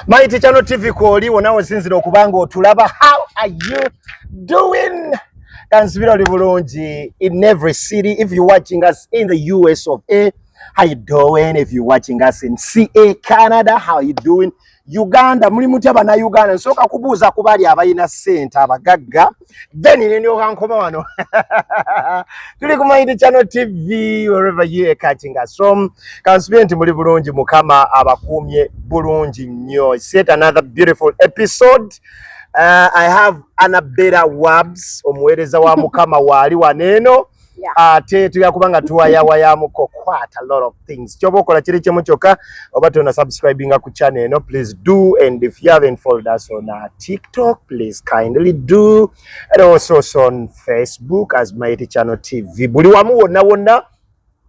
Mighty Channel TV kwoli wona osinzira okubanga otulaba how are you doing kanzibira oli bulungi in every city if you watching us in the US of A how you doing if you watching us in CA Canada how you doing Uganda muli mutya bana Uganda nsoka kubuuza kubali abayina sente abagagga then nendyoka nkoma wano tuli ku mind channel tv wherever you are catching us from kansubye nti muli bulungi mukama abakuumye bulungi nnyo set another beautiful episode uh, i have anabera wabs omuweereza wa mukama waali waneeno ate tuya kubanga tuwayawayamuko quite a lot of things kyoba okola kiri kimu kyokka oba tona subscribinga ku channel eno please do and if you haven't followed us on our uh, tiktok please kindly do and also on facebook as mighty channel tv buli wamu wonna wonna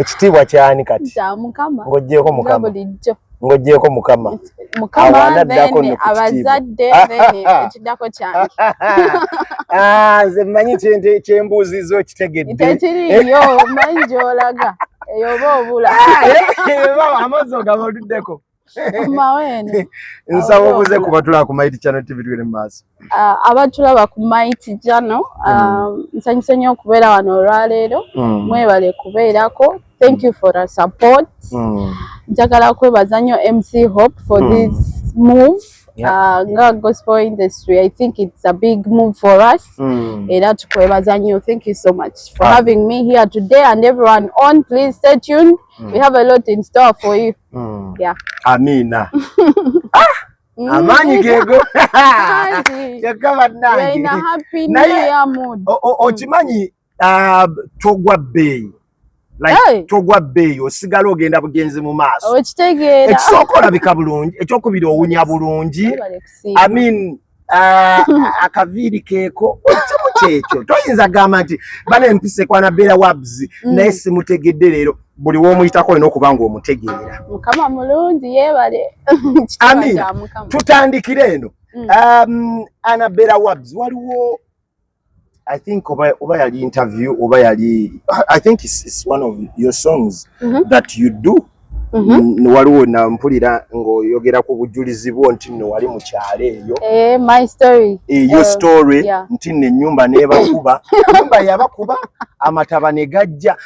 ekitiibwa kyani kati ng'oggyeeko mukama ng'oggyeeko mukama abazadde ekiddako kyange ah, nze mmanyi kyembuuziza okitegedde ekiriyo mmanyi gy'olaga eyo oba obula ah, eh, eh, amazzi ogaba oluddeko nsaba obuze kuba tulaba ku mighty channel tv tugere mu maaso ah, abatulaba ku mighty channel mm. ah, nsanyuse nnyo okubeera wano olwaleero mm. mwebale kubeerako thank you for our support mm. njagala kwebaza nnyo mc hope for this move ah, nga gospel industry i think it's a big move for us era tukwebaza nnyo thank you so much for having me here today and everyone on please stay tuned we have a lot in store for you Mm. Yeah. Amina. ah! Mm. Amaanyi geego kyokka bannange naye okimanyi uh, togwa bbeeyi like togwa bbeeyi osigala ogenda bugenzi mu maaso ekisooka olabika bulungi ekyokubiri owunya bulungi amin Ah, akaviiri keeko ekimu kyekyo toyinza gamba nti bana empisa ekwana beera wabs mm. naye simutegedde leero buli womuyitako olina okuba nga omutegeera mukama mulungi yebale amina tutandikire eno mm. um, anabera wabs waliwo I think oba, oba yali interview oba yali I think it's, it's one of your songs mm -hmm. that you do mhm. waliwo na mpulira ng'oyogera ku bujulizi bwo nti nno wali mu kyalo eyo eh, my story eh, your eh, story nti nno ennyumba nebakuba nyumba yabakuba amataba ne gajja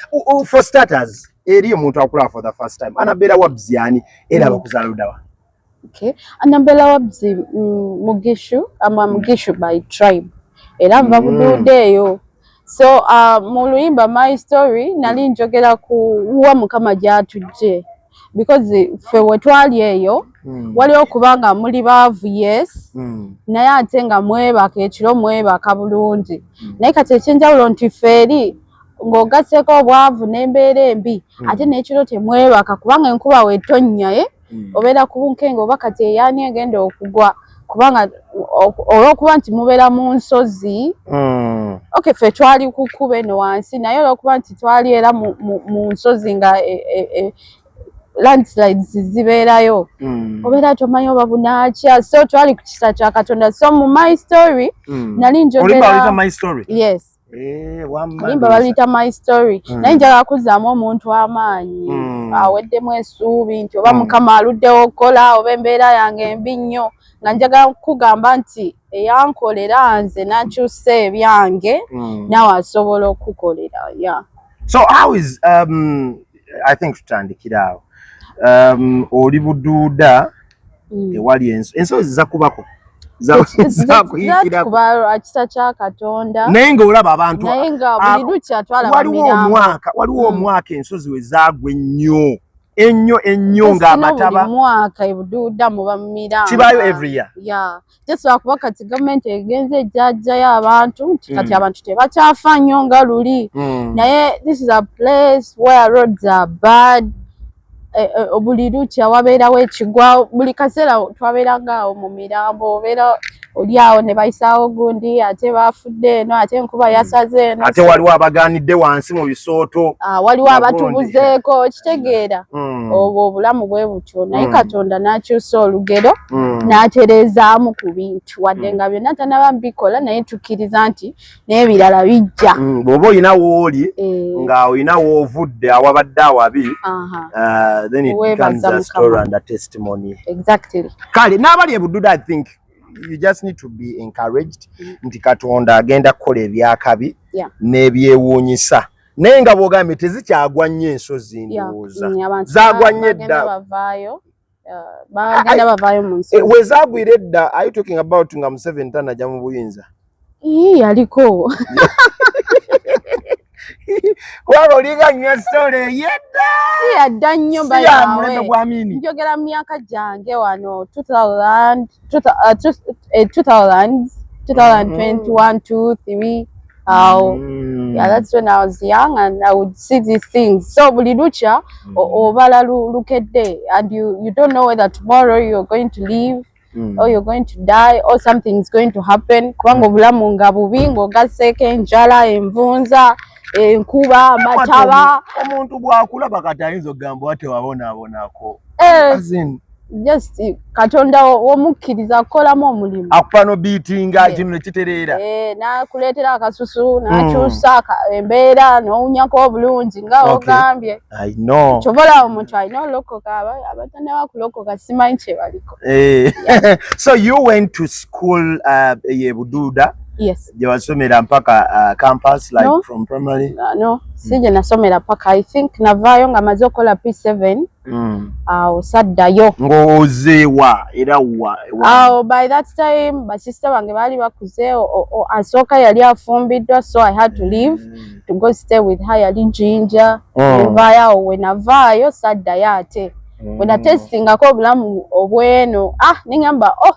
for starters eri omuntu akulaba for the first time anabeera wabzi ani era mm. bakuzaala ludawa Okay. Anambela wabzi mm, Mugishu ama mm. Mugishu by tribe era nva mm. budude eyo so uh, mu luyimba my story nali njogera ku wa mukama gyatujje because ffe wetwali eyo mm. waliwo kubanga muli baavu yes mm. naye ate nga mwebaka ekiro mwebaka bulungi mm. naye kati ekyenjawulo nti ffe eri ng'ogaseeko obwavu n'embeera embi mm. ate n'ekiro temwebaka kubanga enkuba wetonnya ye eh? mm. obeera ku bunkenga oba kati eyaani egenda okugwa kubanga olwokuba nti mubeera mu nsozi mm. ok fe twali kukuba eno wansi naye olwokuba nti twali era mu nsozi nga e, e, e, landslides zibeerayo mm. obeera tomanyi oba bunakya so twali ku kisa kya katonda so mu my story mm. nali njogera yes Eh, alimba baluyita my story mm. naye njagala kuzzaamu omuntu amaanyi mm. aweddemu esuubi nti oba mm. mukama aluddewo okukola oba embeera yange embi nnyo nga njagala kukugamba nti eyankolera nze nakyusa ebyange mm. nawe asobola okukukolera ya so how is um, i think tutandikira awo um, oli buduuda mm. ewali enso enso ziza kubako zakuyikiraakisa kya katonda naye ngaolaba abantu waliwo omwaka waliwo mm. omwaka ensozi we zaagwa ennyo ennyo ennyo ng'amataba kibaayo every year just lwakuba kati gavumenti egenze ejjajjayo abantu nti kati mm. abantu tebakyafa nnyo nga luli mm. naye this is a place where roads are bad e, e, buli lukya wabeerawo ekigwa buli kaseera twabeerangaawo mu mirambo obeera oli awo ne bayisaawo gundi ate baafudde eno ate enkuba mm. yasaze eno ate waliwo abagaanidde wansi mu bisooto ah, waliwo abatubuzeeko kitegeera obwo obulamu bwe buti bwatyo naye mm. katonda n'akyusa olugero mm. n'atereezaamu ku bintu wadde mm. nga byonna tanaba bikola naye tukkiriza nti n'ebirala bijja mm, bw'oba olina wooli eh. nga olina woovudde awabadde awabi uh, then it becomes a story and a testimony exactly kale n'abali ebududa i think you just need to be encouraged mm. nti katonda agenda kukola ebyakabi yeah. n'ebyewuunyisa naye nga bwogambye tezikyagwa nnyo ensozi ndowooza mm, zagwa nnyo edda eh, wezagwira edda ayu talking about nga museveni tanaja mu buyinza yaliko kubanga olinga nnywa sitole yedda siyadda nnyo bayamulembe gwa mini njogera mu myaka gyange wano 2000 2000 2021 2 3 awo mm. yeah, that's when i was young and i would see these things so buli lukya mm. obala lukedde and you, you don't know whether tomorrow you're going to leave mm. or you're going to die or something is going to happen kubanga mm. obulamu nga bubi ng'ogasseeko enjala envunza enkuba amataba omuntu bwakulaba kati ayinza okugamba watewabonaabonako eh. just katonda womukkiriza akukolamu omulimu akupa no biitinga eh. kino nekitereera eh, nakuleetera akasusu hmm. nakyusa embeera nowunyako obulungi nga ogambye kyobola omuntu alina olokoka abatana bakulokoka simanyi kyebaliko eh. so you went to school uh, yebuduuda yes jewasomera mpaka uh, campus like no. from primary uh, no sije mm. nasomera paka i think navayo nga maze okola p7 mm. awo saddayo ng'ozeewa era wa awo by that time basista bange baali bakuze asooka yali afumbiddwa so i had to leave mm. to go stay with her yali jinja mm. evaayo awo wenavaayo saddayo ate mm. wenatestingako obulamu obweno ah nengamba oh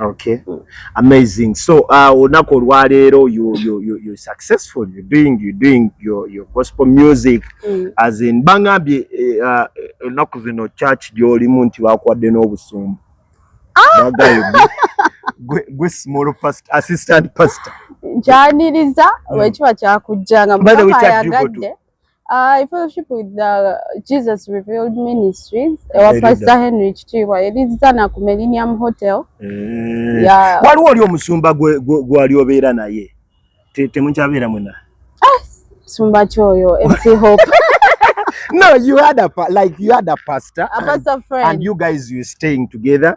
Okay. Mm. Amazing. So uh, olunaku olwaleero you, you, you, you successful you doing, you doing your, your gospel music mm. as in bangambye eh, uh, olunaku uh, zino church gyolimu nti wakuwadde n'obusumbu ah! gwe small past, assistant pastor nkyaniriza mm. lwekiba kyakujjanga mukama ayagadde Uh, I fellowship with the Jesus Revealed Ministries ewa Pastor Henry Kitiibwa erizza na ku Millennium Hotel. Mm. Yeah. Waliwo oli omusumba gwali obeera naye temukyabeera mwena? Ah, sumba kyoyo MC Hope. no, you had a like you had a pastor, a pastor and, friend. and you guys you staying together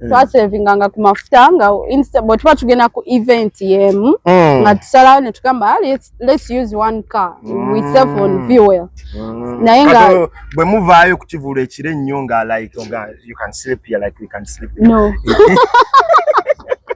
Mm. twasevinga nga ku mafuta nga bwe tuba tugenda ku event yemu mm. nga tusalawo ne tugamba ah, let's use one car mm. we save on fuel naye nga bwe muvaayo ku kivulu ekiro ennyo nga like oh you can sleep here like we can sleep no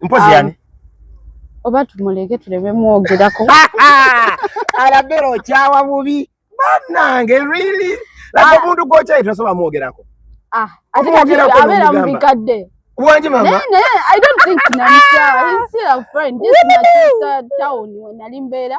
mpozi um, yani oba tumuleke tuleme mwogerako alabera okyawa bubi banange really laba ah. omuntu gwokyayi tasobola mwogerako ah, abeera mu bikadde Wanje mama. Naye naye I don't think namukyawa. He's still a friend. Just in a town when alimbeera.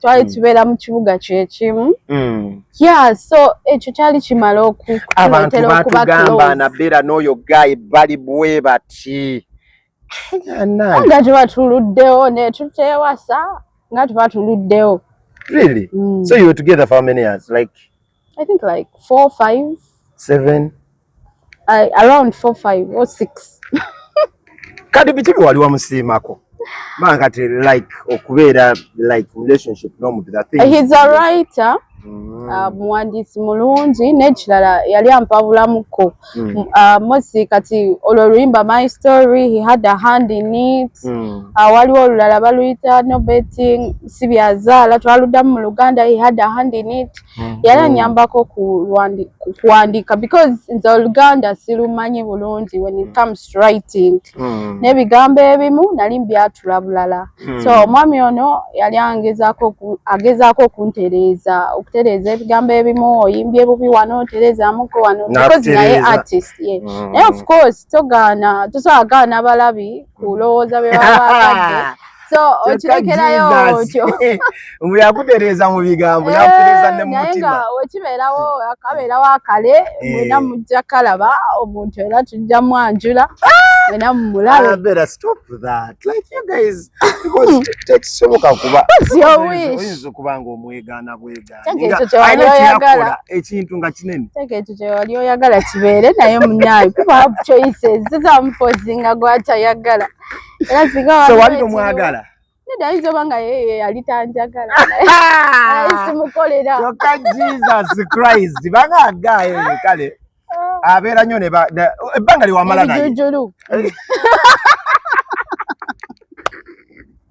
twali hmm. tubeera mu kibuga kyekimu hmm. ya so ekyo kyali kimala okuabantu batugamba nabeera n'oyo gayi bali bwe bati nga tuba tuluddewo netutewasa nga tuba tuluddewo really mm. so you were together for how many years like I think like four, five, seven, uh, around four, five or six. Kati biki bye wali wamusiimako? Man kati like okubeera like relationship n'omuntu that thing. He's a writer. Mm. Uh, muwandiisi mulungi n'ekirala yali ampabulamuko mm. uh, mosi kati olwo luyimba my story he had a hand in it mm. uh, waliwo olulala baluyita no betting sibyazaala twaluddamu mu luganda he had a hand in it mm. Mm-hmm. yali anyambako kuwandiika because nze oluganda silumanyi bulungi when it mm. comes writing mm. n'ebigambo ebimu nali mbyatula bulala mm. so omwami ono yali agezaako okuntereeza okutereeza ebigambo ebimu oyimbye bubi wano otereezamuko wano because naye artist ye mm. naye of course togaana tosobola gaana balabi kulowooza bye baba bagadde so okirekerayo otyo mbu yakutereeza mu bigambo eh, yakutereeza ne mu mutima naye nga wekibeerawo akabeerawo akale eh. mwena mujja kalaba omuntu era tujja mwanjula mwena mumulabeera ah, stop that like you guys because tekisoboka kuba oyinza okuba nga omwegaana bwegaanaekyoyagala ekintu nga kinene teka ekyo kyewali oyagala kibeere naye munaayo kuba choices zizamufozinga gwatayagala era singa wali so wali tomwagala nedda ayinza oba nga yeye yali tanjagala simukolera kyokka jesus christ banga agaayo ye kale ah. abeera nnyo ne ebbanga lyewamala naye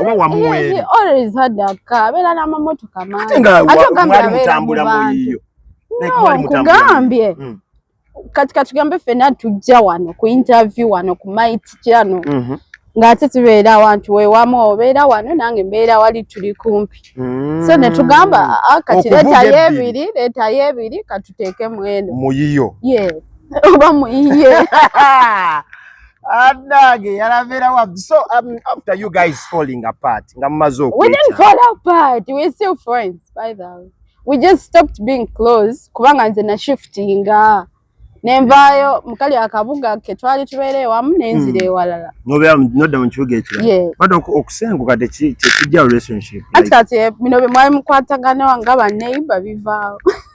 oba wamuweere abeera n'amamotoka mangi nga mwali mutambula muyiyo nkugambye hmm. kati katugambe fena tujja wano ku interview wano ku mait kyano mhm. ng'ate tubeera awantu wewamu obeera wano nange mbeera wali tuli kumpi so mm. netugamba ah, kati letayo ebiri letayo ebiri katuteeke mweno muyiyo oba muyiye Adage yalavera wapi? So um, after you guys falling apart, nga mumaze okweta. We didn't fall apart. We're still friends by the way. We just stopped being close kubanga nze na shiftinga. Nenvayo mukali akabuga ke twali tubeere wamu nenzire hmm. ewalala. Mm. Nobera nodda mu kibuga ekirala. Yes. But okusenguka tekijja relationship. Ati kati eh, bino bye mwali mukwatagana nga ba neighbor bivaawo.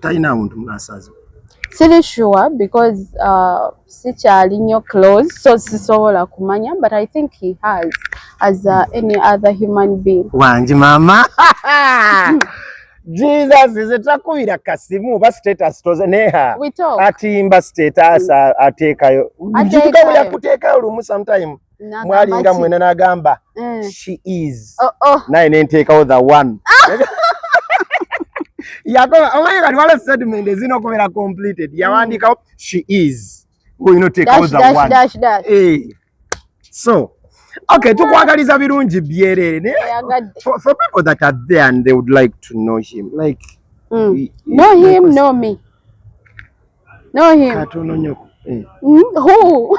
talina muntu munasaza siri sure because uh, sikyali nyo close so sisobola kumanya but i think he has as uh, any other human being wangi mama jesus ize takubira kasimu ba status toze neha atimba status mm. atekayo kituka yakutekayo lumu sometime mwalinga mwena nagamba mm. she is oh, oh. naye nenteekawo the one yakoba omanyi kati wala statement ezina okubeera completed yawandiikawo mm. she is ngoyinoteekawo the one eh. so okay tukwagaliza birungi byereere naye for, for people that are there and they would like to know him like mm. he, he, know him like, know me know him katononyoko eh. mm, who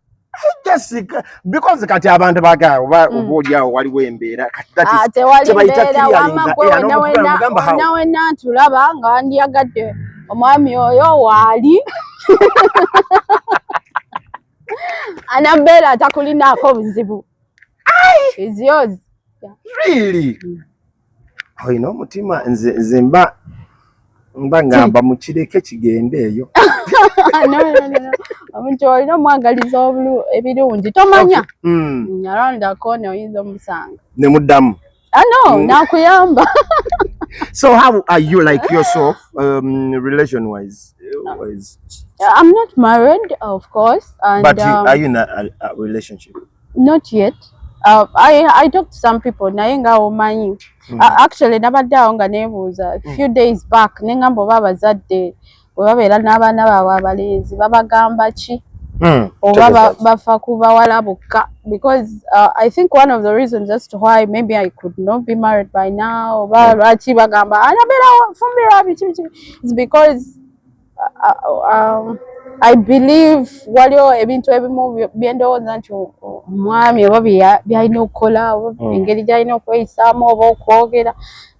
because kati abantu baga oba mm. oba oli awo waliwo embeera ah, nawe natulaba nga wandiyagadde omwami oyo waali anambeera atakulinaako buzibu is yours really mm. olina omutima nze nze mba mba ngamba mukireke kigende eyo omuntu olina omwagaliza obulu ebirungi tomanya hmm. nyalondako ne oyinza omusanga ne muddamu ano ah, hmm. nakuyamba so how are you like yourself um, relation wise i'm not married of course and, but um, are you in a, a, a relationship not yet uh, I, I talk to some people naye nga omanyi mm. uh, actually nabadde awo nga nebuuza mm. few days back nengamba oba abazadde webabeera n'abaana baabwe abalenzi babagamba ki mm. oba bafa ku bawala bokka because uh, i think one of the reasons as to why maybe i could not be married by now oba hmm. lwaki bagamba anabeera fumbirwa biki biki is because um, I believe waliwo ebintu ebimu byendowooza nti omwami oba byalina okukola oba hmm. engeri gyalina okweyisaamu oba okwogera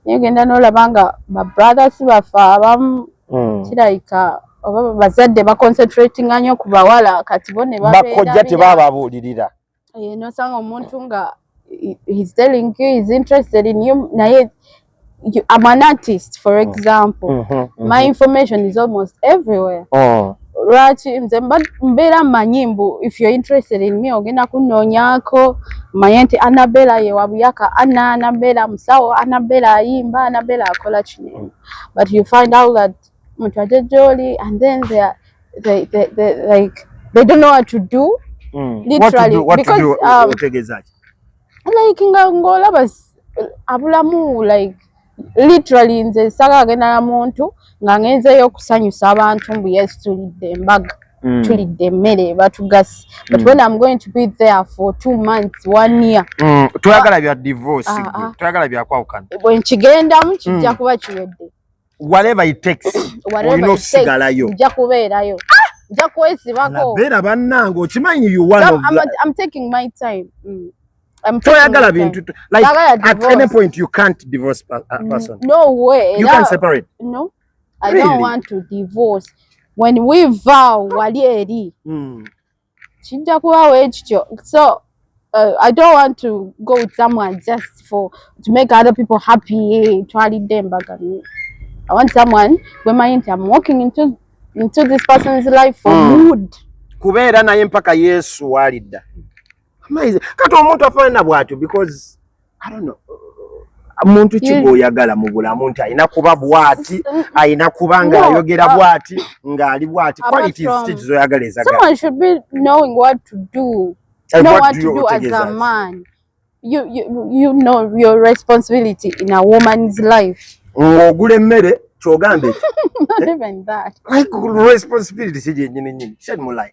naye genda nolaba nga ba brothers baffe abamu hmm. kirayika oba bazadde baconcentratinga nyo ku bawala kati bo ne bakojja tebababuulirira eh, nosanga omuntu nga he's telling you he's interested in you naye you, I'm an artist for mm. example mm -hmm, mm -hmm. my information is almost everywhere oh. lwaki nze mbeera mmanyi mbu if you're interested in me ogenda kunnoonyako manye nti anabela ye wabuyaka ana anabela musawo anabela ayimba anabela akola kino but you find out that mtu aje joli and then they are, they, they, they, like they don't know what to do mm. literally what to do, what because to do, um, utegezaje like nga ngola bas abulamu like literally nze saka agenda na muntu nga ngenzeyo okusanyusa abantu mbu yes tulidde embaga mm. tulidde emmere batugasi but mm. when i'm going to be there for two months one year mm. twagala bya divorce ah, ah. twagala byakwawukana bwenkigendamu kijja mm. kuba kiwedde whatever it takes olina okusigalayo nja kubeerayo nja kwesibako beera bannange okimanyi you one of the... I'm taking my time mm. toyagala bintu like at any point you can't divorce a uh, mm, person no way you can separate no I really? don't want to divorce when we vow wali eri mm. kijja kuba wekityo so Uh, I don't want to go with someone just for to make other people happy. Twalidde embaga. I want someone where my I'm walking into into this person's life for mm. good. Kubeera naye mpaka Yesu walidda. Amazing. Kati omuntu afanana bwatyo because muntu ki gwoyagala mu bulamu nti alina kuba bwati alina kuba nga ayogera bwati ngaali bwati zoyagala ezagalaogula emmere kyogambe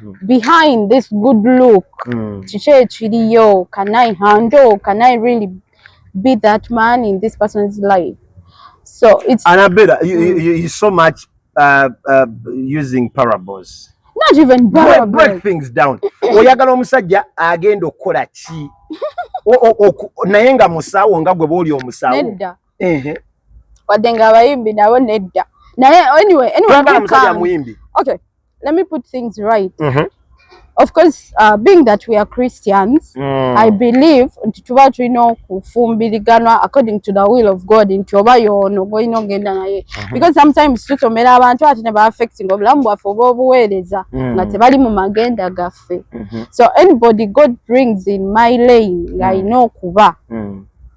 Mm. behind this good look mm. kiki ekiriyo can i handle can i really be that man in this person's life so it's anabela you, mm. you, you so much uh, uh, using parables not even break, break things down oyagala omusajja agenda okukola ki naye nga musawo nga gwe booli omusawo nedda wadde nga abayimbi nabo nedda naye anyway anyway okay let me put things right mm -hmm. of course uh, being that we are christians mm. i believe nti tuba tulina okufumbiriganwa according to the will of god nti oba yoono golina ogenda naye mm -hmm. because sometimes tusomera abantu ate ne baaffecting obulamu bwaffe oba obuweereza mm. nga tebali mu magenda gaffe mm -hmm. so anybody god brings in my lane ng'alina mm. okuba mm.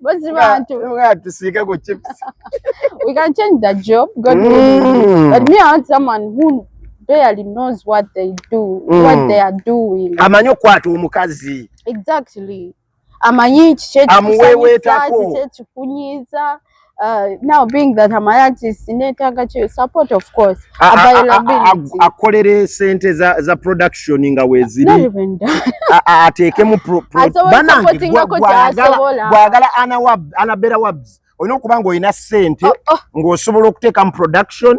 Bozi bantu. Nga tusika go chips. We can change the job. God mm. But me I want someone who barely knows what they do, mm. what they are doing. Amanyi okwata omukazi. Exactly. Amanyi kiki ekikusanyiza, kiki ekikunyiza. Uh, now being that I'm an artist, netaaga ki support of course. Availability. Akolere sente za za production nga weziri. Not even that. Ateeke mu pro. Bana gwagala ana wab ana bera wabs. Oyina okuba nga oyina sente oh, oh. ng'osobola okuteeka mu production.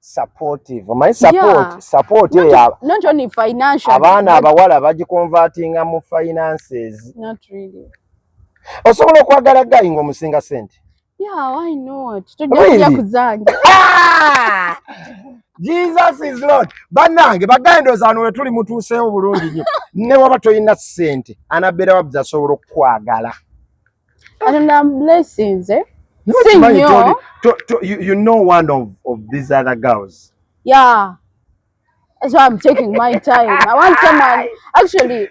supportive omanyi support yeah. support not, yeah. not only financial abaana abawala but... bagikonvertinga mu finances not really osobola okwagala gayi ngaomusinga sente yeah, why not tojakuja really? kuzanja ah! jesus is lord banange bagendoza ano wetuli mutuuseewo bulungi nyo newaba tolina sente anabeera wabuzasobola okukwagala And I'm blessing, eh? Not Sing money, Tony. To, to, you, you know one of, of these other girls. Yeah. That's why I'm taking my time. I want someone actually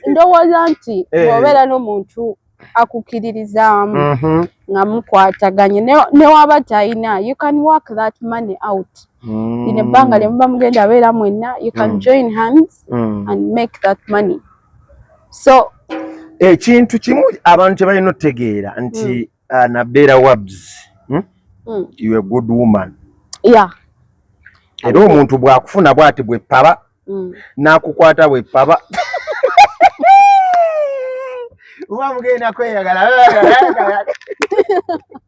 ndowooza nti bw'obeera eh. n'omuntu akukiririzaamu mm-hmm. nga mukwataganye newaba talina you can work that money out mm. in ebbanga lye muba mugenda abeera mwenna you can mm. join hands mm. and make that money so ekintu kimu abantu kyebalina otegeera nti mm. uh, nabeera wabs hmm? mm. you a good woman yeah. era omuntu bwakufuna bwati bwepaba mm. nakukwata bwepaba uba mugenda kweyagala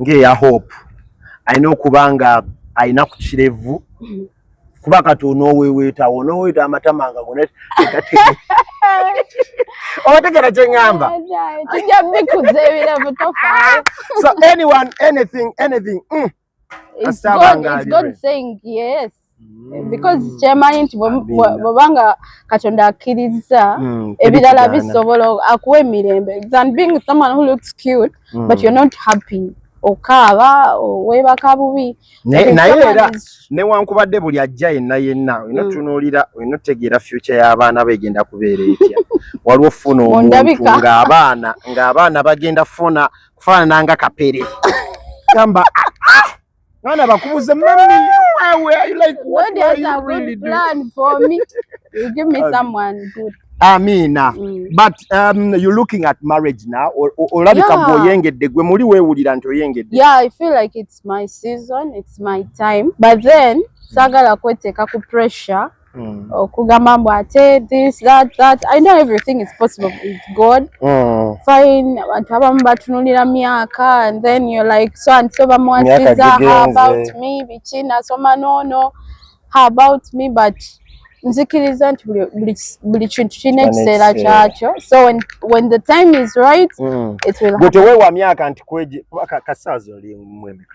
ng'eya hope alina okuba nga alina ku kirevu kuba kati onooweweetawo onooweeta amatama nga gona obategera kyeŋŋamba tujja bikuza ebiravu tofa so anyone anything anything mm. It's God, it's God saying yes. Mm. Because kyemanyi nti bwebanga Katonda akkirizza mm, ebirala bisobola akuwa emirembe than being someone who looks cute mm. but you're not happy okaaba weebaka bubi naye era newankubadde buli ajja yenna yenna olina mm. tunuulira olina otegeera future y'abaana begenda kubeera etya waliwo funa omuntu ng'abaana ng'abaana bagenda funa kufaanana nga kapere gamba mwana bakubuze mami wewe you like what are you really doing plan for me you give me um, someone good Amina mm. but um, you looking at marriage now olabika yeah. oyengedde gwe muli wewulira nti oyengedde yeah i feel like it's my season it's my time but then sagala kweteka ku pressure mm. okugamba mbu ate this that that i know everything is possible with god mm. fine abantu abamu batunulira myaka and then you're like so and so bamuwasiza how about me biki nasoma nono how about me but nzikiriza nti buli kintu kirina ekiseera kyakyo so when, when the time is right mm. it will happen. Gwe tewewa myaka nti kweje kasaazi oli mwemeka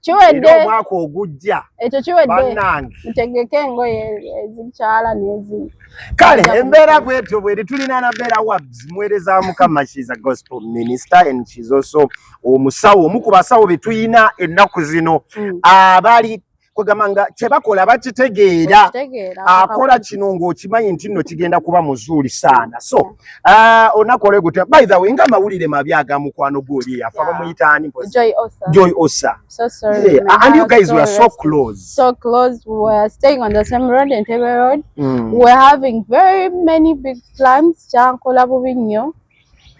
kiwedde omwaka ogujja ekyo kiwedde mutegeke engoye ezikyala nezi kale embeera bwetyo bweri tulina nabeera wabs muweereza mukama shes a gospel minister and shes also omusawo omu ku basawo betulina ennaku zino mm. abali kwegamba nga kyebakola bakitegeera akola kino ngaokimanyi nti nno kigenda kuba muzuuli saana so Ah, onakole gutya by the way nga mawulire mabi aga mukwano gwoli yafa bamuyita ani Joy Osa Joy Osa so sorry yeah. and you guys were so close so close we were staying on the same road Entebbe road mm. we were having very many big plans kyankola bubi nnyo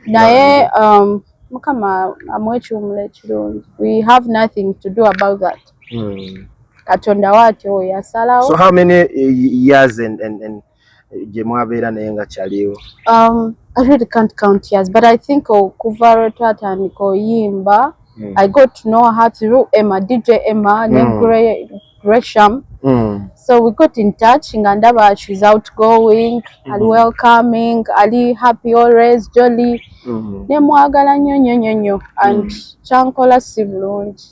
naye um, mukama amwekiwumula ekirungi we have nothing to do about that mm. katonda waatyo yasalawo so how many eh, years and, and, and gye mwabeera naye nga kyaliwo um, I really can't count years but I think okuva lwe twatandika oyimba mm. I got to know her through Emma DJ Emma mm. ne Gresham mm. so we got in touch nga ndaba she's outgoing mm. ali welcoming ali happy always jolly mm. ne mwagala nnyo nnyo nnyo nnyo and mm. kyankola si bulungi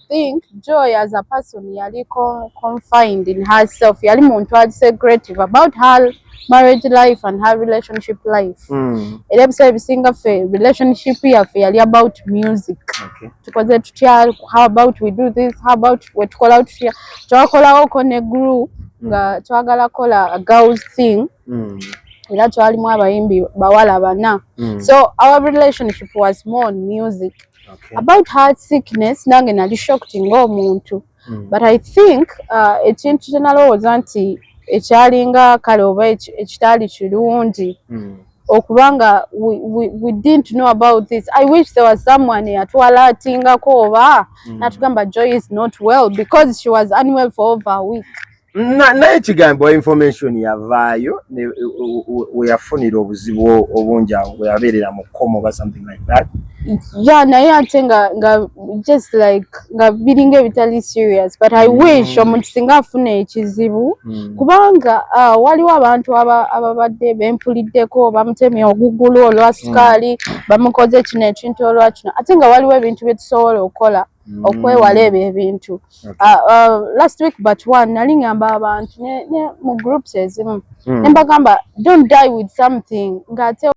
think Joy as a person yali confined in herself yali muntu ali secretive about her marriage life and her relationship life hmm. era ebiseera ebisinga ffe relationship yaffe yali about music tukoze tutya how about we do this how about wetukolawo tutya twakolawoko ne group hmm. nga twagala kola a girls thing hmm. era twalimu abayimbi bawala bana so our relationship was more on music okay. about heart sickness nange nali shocked ng'omuntu mm. but i think uh, ekintu kyenalowooza nti ekyalinga kale oba ekitaali kirungi mm. okubanga we, we, we didn't know about this i wish there was someone yatwala atingako oba mm. natugamba joy is not well because she was unwell for over a week naye kigambo information yavaayo weyafunira obuzibu obungi awo weyabeerera mu komo oba something like that ya naye ate nga nga just like nga biringa ebitali serious but i mm. wish omuntu singa afuna ekizibu mm. kubanga uh, waliwo abantu ababadde bempuliddeko bamutemye ogugulu olwa sukaali mm. bamukoze kino ekintu olwa kino ate nga waliwo ebintu byetusobola okukola mm. okwewala ebyo ebintu okay. uh, uh, last week but one nali ngamba abantu ne, ne mu groups ezimu mm. nembagamba don't die with something ngaate